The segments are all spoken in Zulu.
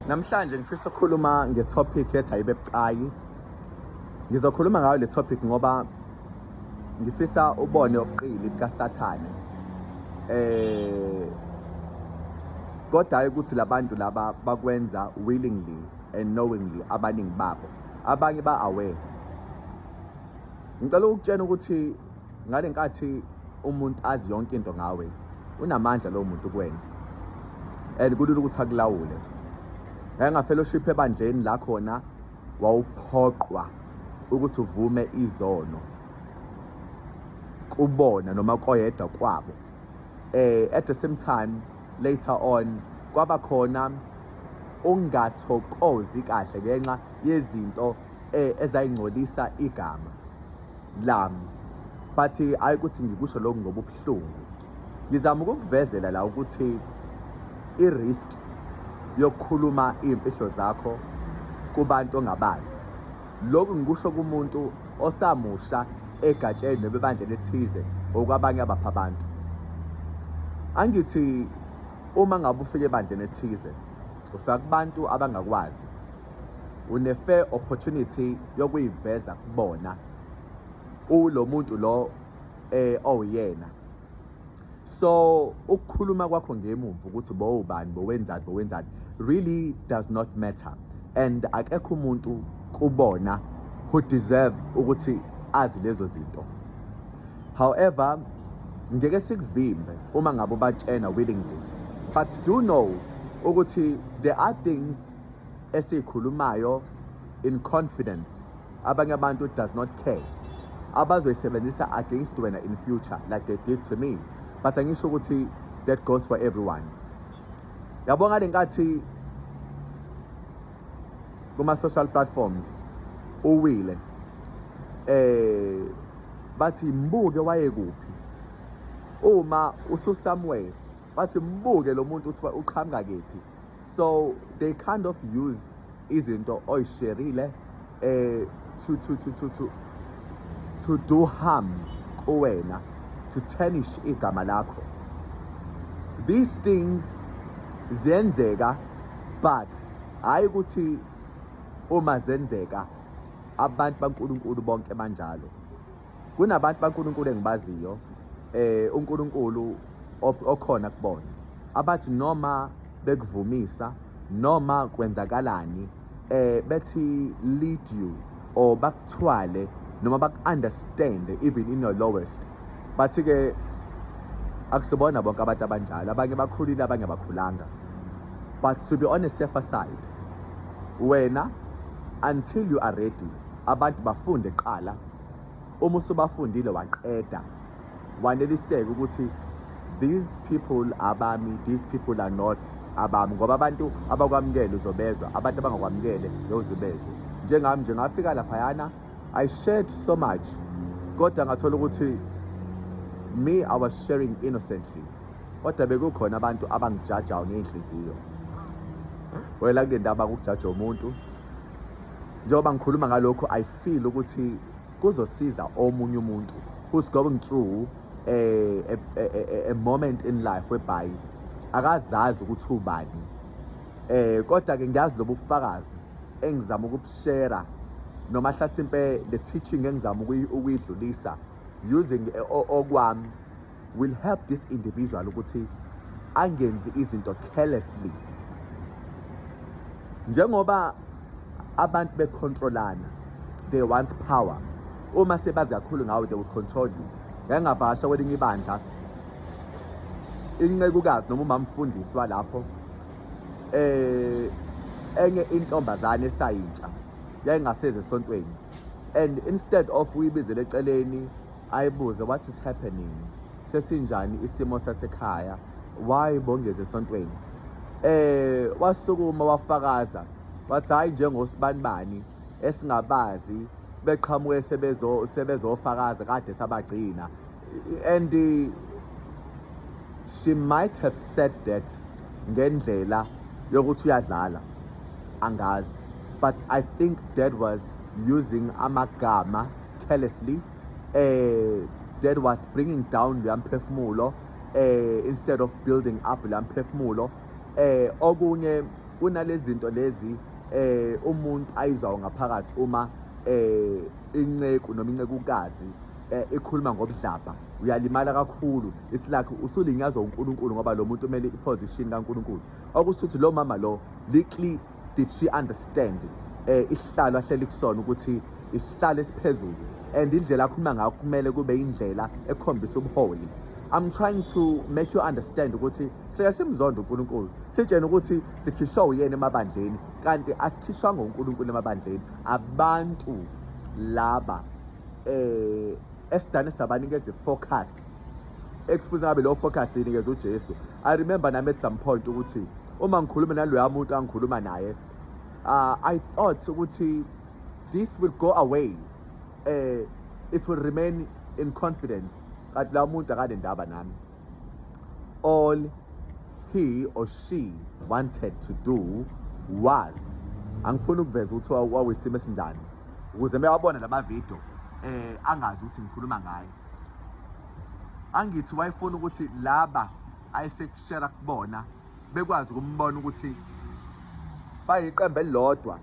Namhlanje ngifisa ukukhuluma ngetopic ethi ayibe bucayi. Ngizokhuluma ngayo le topic ngoba ngifisa ubone obuqili bukaSathane. Eh kodwa ukuthi labantu laba bakwenza willingly and knowingly abaningi babo. Abanye ba aware. Ngicela ukutshena ukuthi ngale nkathi umuntu azi yonke into ngawe unamandla lowo muntu kuwena and kulula ukuthi akulawule ngayengafellowship ebandleni la khona wawuphoqwa ukuthi uvume izono kubona noma koyedwa kwabo eh at the same time later on kwaba khona ungathokozi kahle ngenxa yezinto eh, ezayingcolisa igama lami but ayi ukuthi ngikusho lokhu ngobubuhlungu ngizama ukukuvezela la ukuthi i-risk yokukhuluma iy'mfihlo zakho kubantu ongabazi lokhu ngikusho kumuntu osamusha egatsheni noma ebandleni ethize okwabanye abapha abantu angithi uma ngabe ufika ebandleni ethize ufika kubantu abangakwazi une-fair opportunity yokuyiveza kubona ulo muntu lo eh owuyena oh, so ukukhuluma kwakho ngemumva ukuthi bowubani bowenzani bowenzani really does not matter and akekho umuntu kubona who deserve ukuthi azi lezo zinto however ngeke sikuvimbe uma ngabe ubatshena willingly but do know ukuthi there are things esikhulumayo in confidence abanye abantu does not care abazoyisebenzisa against wena in future like they did to me but angisho ukuthi that goes for everyone yabo ngale nkathi kuma-social platforms uwile eh bathi mbuke wayekuphi uma ususamwele bathi mbuke lo muntu ukuthi uqhamuka kephi so they kind of use izinto oyisherile eh to to to to to to do harm kuwena to tarnish igama lakho these things ziyenzeka but hayi ukuthi uma zenzeka abantu baNkulunkulu bonke banjalo kunabantu baNkulunkulu engibaziyo eh uNkulunkulu okhona kubona abathi noma bekuvumisa noma kwenzakalani eh bethi lead you or bakuthwale noma baku-understand even in your lowest bathi ke akusibona bonke abantu abanjalo abanye bakhulile abanye abakhulanga but to be on a safer side wena until you are ready abantu bafunde kuqala uma usubafundile waqeda waneliseka ukuthi these people abami these people are not abami ngoba abantu abakwamukele uzobezwa abantu abangakwamukele yozubezwe njengami nje ngafika laphayana i shared so much kodwa ngathola ukuthi me i was sharing innocently kodwa bekukhona abantu abangijajayo ngey'nhliziyo wela kule ndaba kukujaja umuntu njengoba ngikhuluma ngalokhu i feel ukuthi kuzosiza omunye umuntu who's going through a, a, a, a moment in life whereby akazazi ukuthi ubani eh kodwa ke ngiyazi lobu bufakazi engizama ukubushare noma hlasimpe le teaching engizama ukuyidlulisa using okwami will help this individual ukuthi angenzi izinto carelessly njengoba abantu becontrolana they want power uma sebazi kakhulu ngawe they will control you ngengavasha kwelinye ibandla incekukazi noma umamfundiswa lapho eh enye intombazane esayintsha yayingaseze esontweni and instead of uyibizele eceleni ayibuze what is happening sesinjani isimo sasekhaya why bongeze esontweni eh wasukuma wafakaza wathi hayi njengosibanibani esingabazi sibeqhamuke sebezo sebezofakaza kade sabagcina and she might have said that ngendlela yokuthi uyadlala angazi but i think dad was using amagama carelessly eh that was bringing down leya mphefumulo eh instead of building up leya mphefumulo eh okunye kunalezinto lezi eh umuntu ayizwa ngaphakathi uma eh inceku noma incekukazi eh, ikhuluma ngobudlabha uyalimala kakhulu it's like usulinyazwa uNkulunkulu ngoba lo muntu umele iposition kaNkulunkulu okusho ukuthi lo mama lo likli did she understand eh isihlalo ahleli kusona ukuthi isihlalo esiphezulu and indlela akhuluma ngayo kumele kube indlela ekhombisa ubuholi I'm trying to make you understand ukuthi sike simzonda uNkulunkulu sitshena ukuthi sikhishwa uyena emabandleni kanti asikhishwa ngoNkulunkulu emabandleni abantu laba eh esidane sabanikeza ifocus Excuse ngabe lo focus inikeza uJesu. I remember nami at some point ukuthi uma ngikhuluma naloya muntu angikhuluma naye uh, I thought ukuthi this will go away eh uh, it will remain in confidence kanti la muntu akanendaba nami all he or she wanted to do was angifuni ukuveza ukuthi wawisimo esinjani ukuze mewabona lama video eh angazi ukuthi ngikhuluma ngaye angithi wayefuna ukuthi laba ayesekushera kubona bekwazi ukumbona ukuthi bayiqembu elilodwa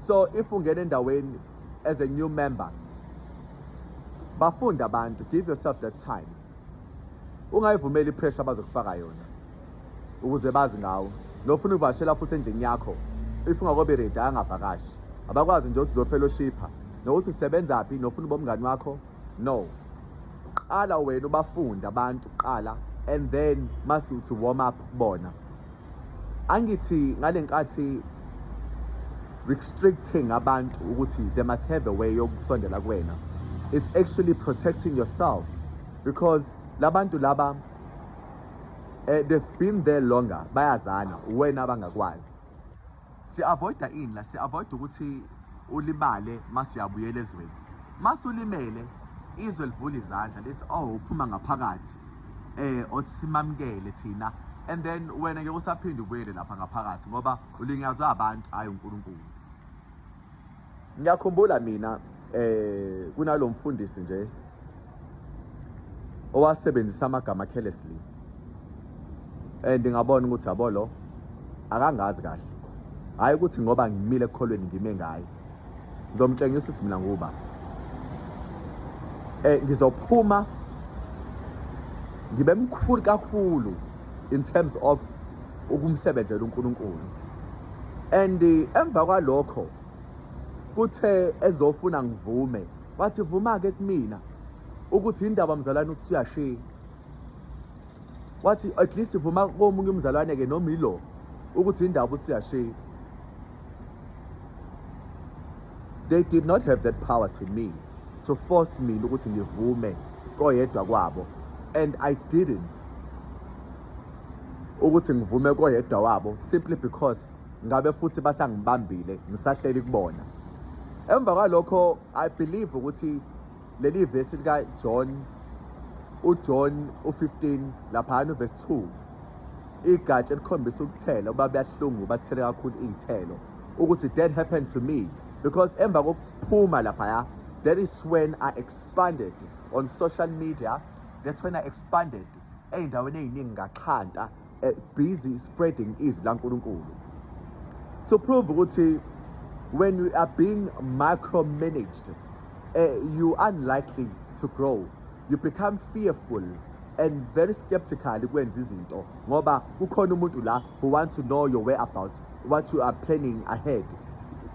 so if ungena endaweni as a new member bafunda abantu give yourself that time ungayivumeli ipressure abazokufaka yona ukuze bazi ngawo nofuna ukuvakashela futhi endlini yakho if ungakobe ready angavakashi abakwazi nje ukuthi uzofellowshipha nokuthi usebenza phi nofuna ubomngani wakho no qala wena ubafunde abantu qala and then mase uthi warm up bona angithi ngalenkathi restricting abantu ukuthi they must have a way yokusondela kuwena it's actually protecting yourself because labantu laba eh, they've been there longer bayazana wena abangakwazi si-avoida ini la si-avoida ukuthi ulimale uma siyabuyela ezweni uma sulimele izwe livula izandla lithi oh uphuma ngaphakathi eh othi simamukele thina and then wena ngeke usaphinde ubuyele lapha ngaphakathi ngoba ulinyazwa abantu ayi uNkulunkulu ngiyakhumbula mina eh kunalomfundisi nje owasebenzisa amagama carelessly and ngabona ukuthi yabo lo akangazi kahle hayi ukuthi ngoba ngimile ekukholweni ngime ngaye ngizomtshengisa ukuthi mina nguba eh ngizophuma ngibe mkhulu kakhulu in terms of ukumsebenzela uNkulunkulu and emva kwalokho kuthe ezofuna ngivume wathi vuma-ke kumina ukuthi indaba mzalwane ukuthi suyashiya wathi at least vuma komunye umzalwane-ke noma ilo ukuthi indaba ukuthi suyashiya they did not have that power to me to force mina ukuthi ngivume koyedwa kwabo and i didn't ukuthi ngivume koyedwa wabo simply because ngabe futhi basangibambile ngisahleli kubona emva kwalokho i believe ukuthi leli vesi lika John uJohn u15 lapha uvesi 2 igatsha elikhombisa ukuthela uba buyahlungu bathele kakhulu iy'thelo ukuthi that happened to me because emva kokuphuma laphaya that is when i expanded on social media that's when i expanded ey'ndaweni ey'ningi ngaxhanta eh, busy spreading izwi lankulunkulu to prove ukuthi when you are being micromanaged uh, you unlikely to grow you become fearful and very skeptical kwenza izinto ngoba kukhona umuntu la who want to know your whereabouts what you are planning ahead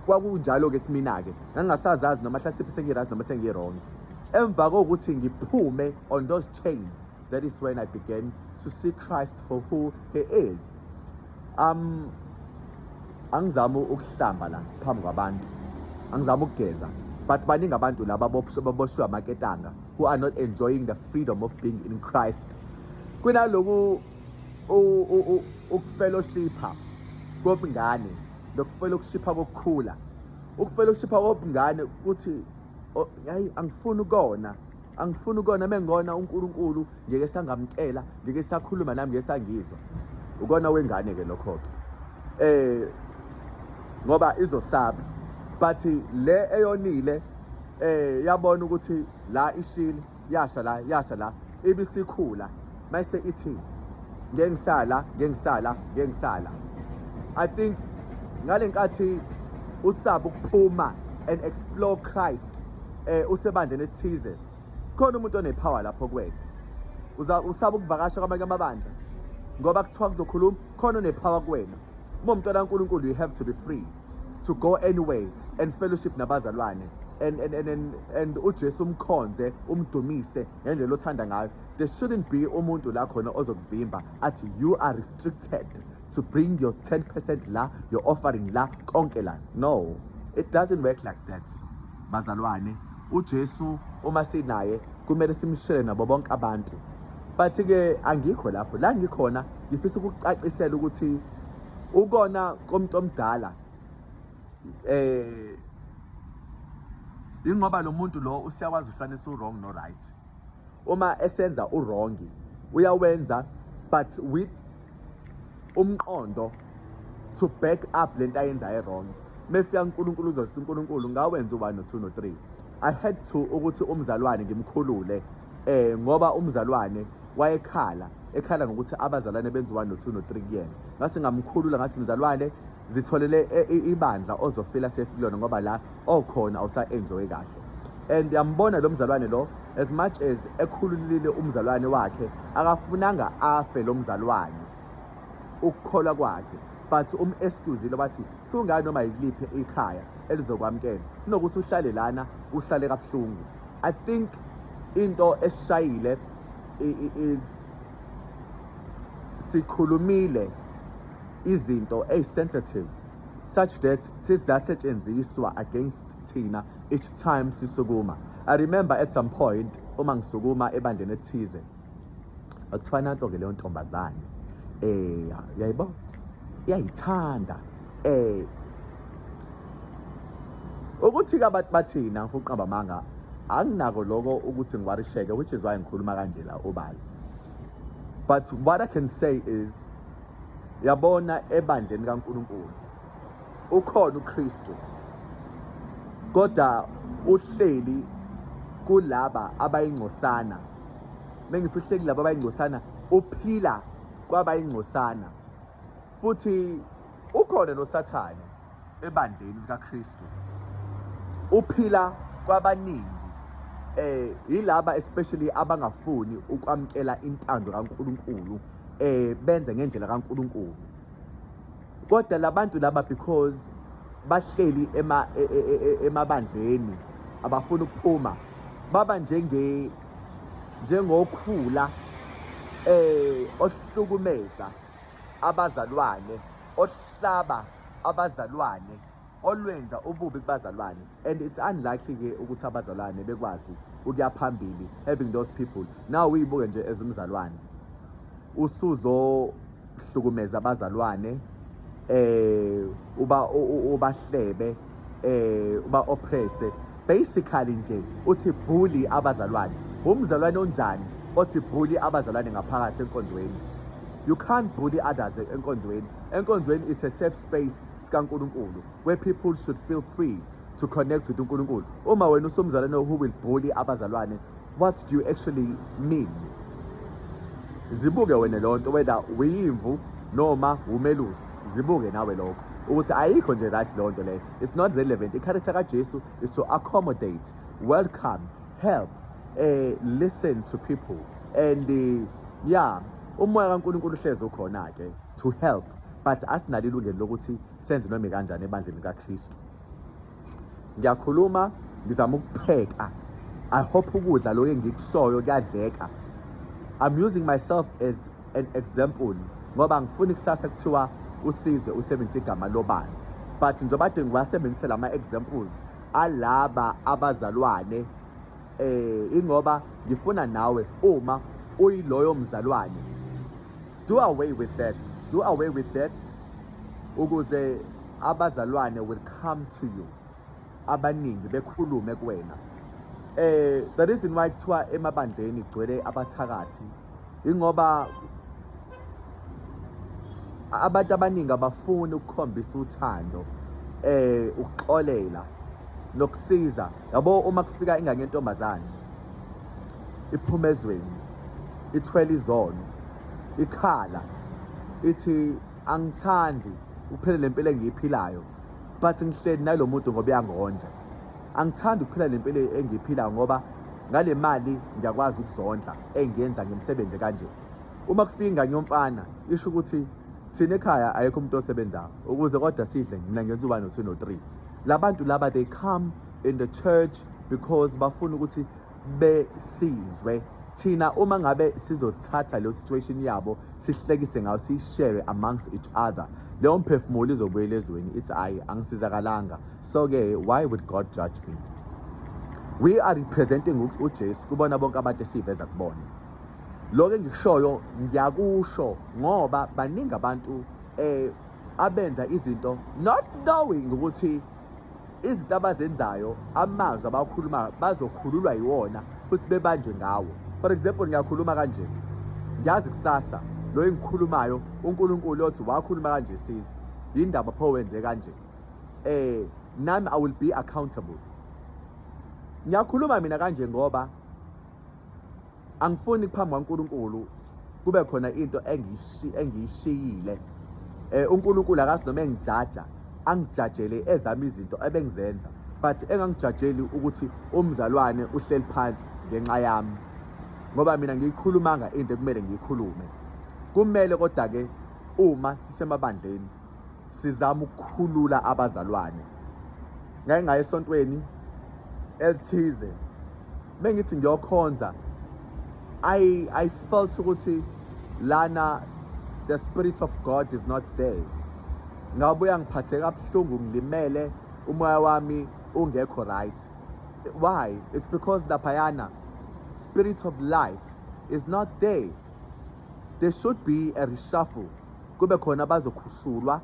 kwakunjalo-ke kumina-ke ngangingasazazi noma hlasimpe sengirazi noma sengirong emva kokuthi ngiphume on those chains. That is when I began to see Christ for who he is. Um angizama ukuhlamba la phambi kwabantu. Angizama ukugeza. But baningi abantu laba boboshwe amaketanga who are not enjoying the freedom of being in Christ. Kunaloku ukufellowshipha kobungane nokufellowshipha kokukhula ukufellowshipha kobungane kuthi hayi angifuni ukona angifuni ukona uma ngikona unkulunkulu ngeke sangamkela ngeke sakhuluma nami ngeke sangizwa ukona wengane ke lokho-ke eh ngoba izosaba but le eyonile eh yabona ukuthi la ishile yasha la yasha la ibisikhula mayise ithi ngeke ngisala ngeke ngisala ngeke ngisala i think ngale nkathi usaba ukuphuma and explore Christ eh usebandleni ethize khona umuntu onepower lapho kwena uza usaba ukuvakasha kwamanye amabandla ngoba kuthiwa kuzokhuluma khona onepower kuwena uma umntwana kaNkulunkulu you have to be free to go anyway and fellowship nabazalwane and and and and, and uJesu umkhonze umdumise ngendlela othanda ngayo there shouldn't be umuntu la khona ozokuvimba athi you are restricted to bring your 10% la your offering la konke la no it doesn't work like that bazalwane uJesu uma sinaye kumele simshele nabo bonke abantu but ke angikho lapho la ngikhona ngifisa ukucacisela ukuthi ukona komuntu omdala eh ingoba lo muntu lo usiyakwazi uhlanisa u-wrong no-right uma esenza urongi uyawenza but with umqondo to back up lento ayenza erongi mefika uNkulunkulu uzothi uNkulunkulu ngawenza u1 no2 no3 i had to ukuthi umzalwane ngimkhulule eh ngoba umzalwane wayekhala ekhala ngokuthi abazalwane benza u1 no2 no3 kuyena ngase ngamkhulula ngathi mzalwane zitholele e, e, ibandla ozofila safe kulona ngoba la okhona awusa-enjoyi kahle and yambona lo mzalwane lo as much as ekhululile umzalwane wakhe akafunanga afe lo mzalwane ukukholwa kwakhe but um-excusile wathi sungani noma yiliphi ikhaya elizokwamukela kunokuthi uhlale lana uhlale kabuhlungu i think into esishayile is sikhulumile izinto ey sensitive such that sizasetshenziswa against thina each time sisukuma i remember at some point uma ngisukuma ebandleni ethize akuthiwa nanso ke leyo ntombazane eh yayibo iyayithanda eh ukuthi ke abantu bathina ngifuna uqamba amanga anginako lokho ukuthi ngiwarisheke which is why ngikhuluma kanje la obala but what i can say is yabona ebandleni kaNkulunkulu ukhona uKristu kodwa uhleli kulaba abayingcosana mengithi uhleli laba abayingcosana uphila kwabayingcosana futhi ukhona nosathane ebandleni likaKristu uphila kwabaningi eh yilaba especially abangafuni ukwamkela intando kaNkuluNkulu eh benze ngendlela kaNkuluNkulu kodwa labantu laba because bahleli ema e, e, e, emabandleni abafuni ukuphuma baba njenge njengokhula eh ohlukumeza abazalwane ohlaba abazalwane olwenza ububi kubazalwane and it's unlikely ke ukuthi abazalwane bekwazi ukuya phambili having those people now uyibuke nje as umzalwane usuzohlukumeza abazalwane eh uba ubahlebe eh uba oppresse basically nje uthi bully abazalwane umzalwane onjani othi bully abazalwane ngaphakathi enkonzweni you can't bully others enkonzweni enkonzweni it's a safe space sikaNkuluNkulu where people should feel free to connect with uNkuluNkulu uma wena usumzalwane who will bully abazalwane What do you actually mean? Zibuke wena lonto whether uyimvu noma umelusi. Zibuke nawe lokho. ukuthi ayikho nje right lonto leyo it's not relevant i-character kaJesu is to accommodate welcome help eh listen to people and eh, yeah umoya kaNkuluNkulu uhlezi ukhona ke to help but asinalo ilungelo lokuthi senze noma kanjani ebandleni kaKristu ngiyakhuluma ngizama ukupheka i hope ukudla lokho engikushoyo kuyadleka i'm using myself as an example ngoba ngifuni kusasa kuthiwa usize usebenzisa igama lobani but njengoba kade ngiwasebenzise lama examples alaba abazalwane eh ingoba ngifuna nawe uma uyiloyo mzalwane Do away with that. Do away with that. Ukuze abazalwane will come to you. Abaningi bekhulume kuwena. Eh the reason why kuthiwa emabandleni kugcwele abathakathi ingoba abantu abaningi abafuni ukukhombisa uthando eh ukuxolela nokusiza yabo uma kufika ingane yentombazane iphuma ezweni ithwele izono ikhala ithi angithandi ukuphila le mpilo engiyiphilayo but ngihleli nalo muntu ngoba uyangondla angithandi ukuphila le mpilo engiyiphilayo ngoba ngale mali ngiyakwazi ukuzondla engiyenza ngemisebenzi kanje uma kufika ingane yomfana isho ukuthi thina ekhaya ayekho umuntu osebenzayo ukuze kodwa sidle mina ngenza uba no-two no-three la bantu laba they come in the church because bafuna ukuthi besizwe thina uma ngabe sizothatha leyo situation yabo sihlekise ngayo siyishare amongst each other leyo mphefumulo izobuyela ezweni ithi ayi angisizakalanga so-ke why would god judge me we are representing ujesu kubona bonke abantu esiyiveza kubona lokho engikushoyo ngiyakusho ngoba baningi abantu um abenza izinto not knowing ukuthi izinto abazenzayo amazwi abakhuluma bazokhululwa yiwona futhi bebanjwe ngawo for example ngiyakhuluma kanje ngiyazi kusasa lo engikhulumayo uNkulunkulu othi wakhuluma kanje sizwe yindaba pho wenze kanje eh nami i will be accountable ngiyakhuluma mina kanje ngoba angifuni phambi kwaNkulunkulu kube khona into engiyishiyile eh uNkulunkulu akazi noma engijaja angijajele ezami izinto ebengizenza but engangijajeli ukuthi umzalwane uhleli phansi ngenxa yami ngoba mina ngiyikhulumanga into ekumele ngiyikhulume kumele kodwa ke uma sisemabandleni sizama ukukhulula abazalwane ngake ngaye esontweni elithize mengithi ngiyokhonza i i felt ukuthi lana the spirit of god is not there ngabuya ngiphatheka kabuhlungu ngilimele umoya wami ungekho right why it's because laphayana spirit of life is not there there should be a reshuffle kube khona abazokhushulwa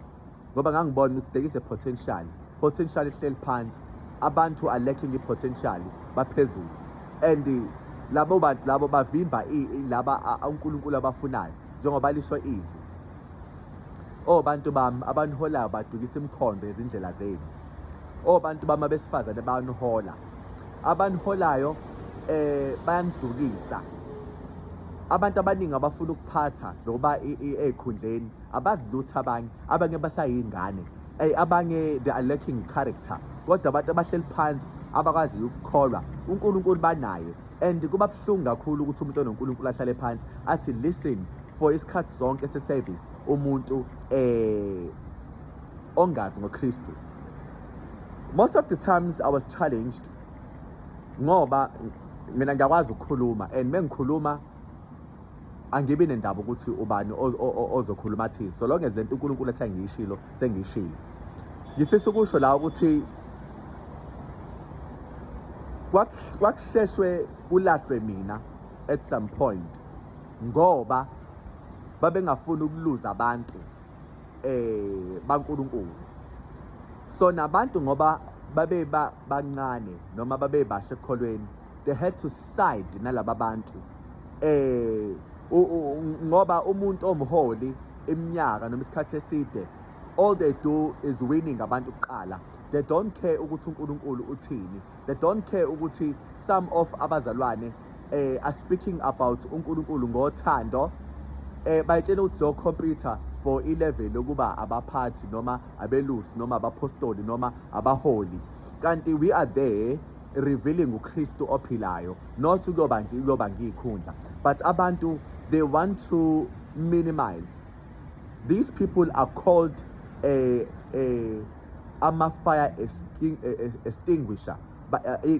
ngoba ngangibona ukuthi there is a potential potential ihleli phansi abantu are lacking i-potential baphezulu and labo bantu labo bavimba laba uNkulunkulu abafunayo njengoba lisho izwi Oh bantu bami abaniholayo badukisa imikhondo ezindlela zenu. Oh bantu bami abesifazane banihola. abaniholayo eh bayanidukisa abantu abaningi abafuna ukuphatha nokuba ezikhundleni abazilutha abanye abanye basayingane ey abanye they are lacking character kodwa abantu abahleli phansi abakwazi ukukholwa uNkulunkulu banaye and kuba buhlungu kakhulu ukuthi umuntu onoNkulunkulu ahlale phansi athi listen for isikhathi sonke se service umuntu eh ongazi ngoKristu most of the times I was challenged ngoba mina ngiyakwazi ukukhuluma and mengikhuluma angibi nendaba ukuthi ubani ozokhuluma athini so long as lento uNkulunkulu ethe ngiyishilo sengiyishilo ngifisa ukusho la ukuthi kwakusheshwe kulahlwe mina at some point ngoba babengafuni ukuluza abantu eh baNkulunkulu so nabantu ngoba babe bancane noma babe bashe ekholweni they had to side nalaba bantu eh ngoba umuntu omholi iminyaka noma isikhathi eside all they do is winning abantu kuqala they don't care ukuthi uNkulunkulu uthini they don't care ukuthi some of abazalwane eh are speaking about uNkulunkulu ngothando eh bayitshela ukuthi so computer for ilevel lokuba abaphathi noma abelusi noma abapostoli noma abaholi kanti we are there revealing uKristu ophilayo not ukuyoba nje ukuyoba ngiyikhundla but abantu they want to minimize These people are called a, a, ama-fire extinguisher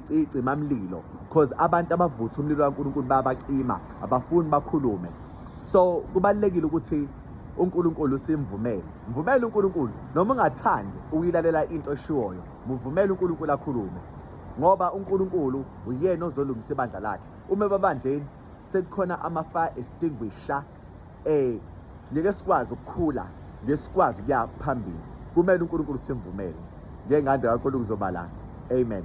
icimamlilo because abantu abavutha umlilo kaNkulunkulu bayabacima abafuni bakhulume so kubalekile ukuthi uNkulunkulu simvumele mvumele uNkulunkulu noma ungathandi uyilalela into eshiwoyo muvumele uNkulunkulu akhulume ngoba uNkulunkulu uyena ozolungisa ibandla lakhe uma babandleni sekukhona ama-fire extinguisher eh ngeke sikwazi ukukhula ngeke sikwazi ukuya phambili kumele uNkulunkulu simvumele ngengande yakho lokuzobala amen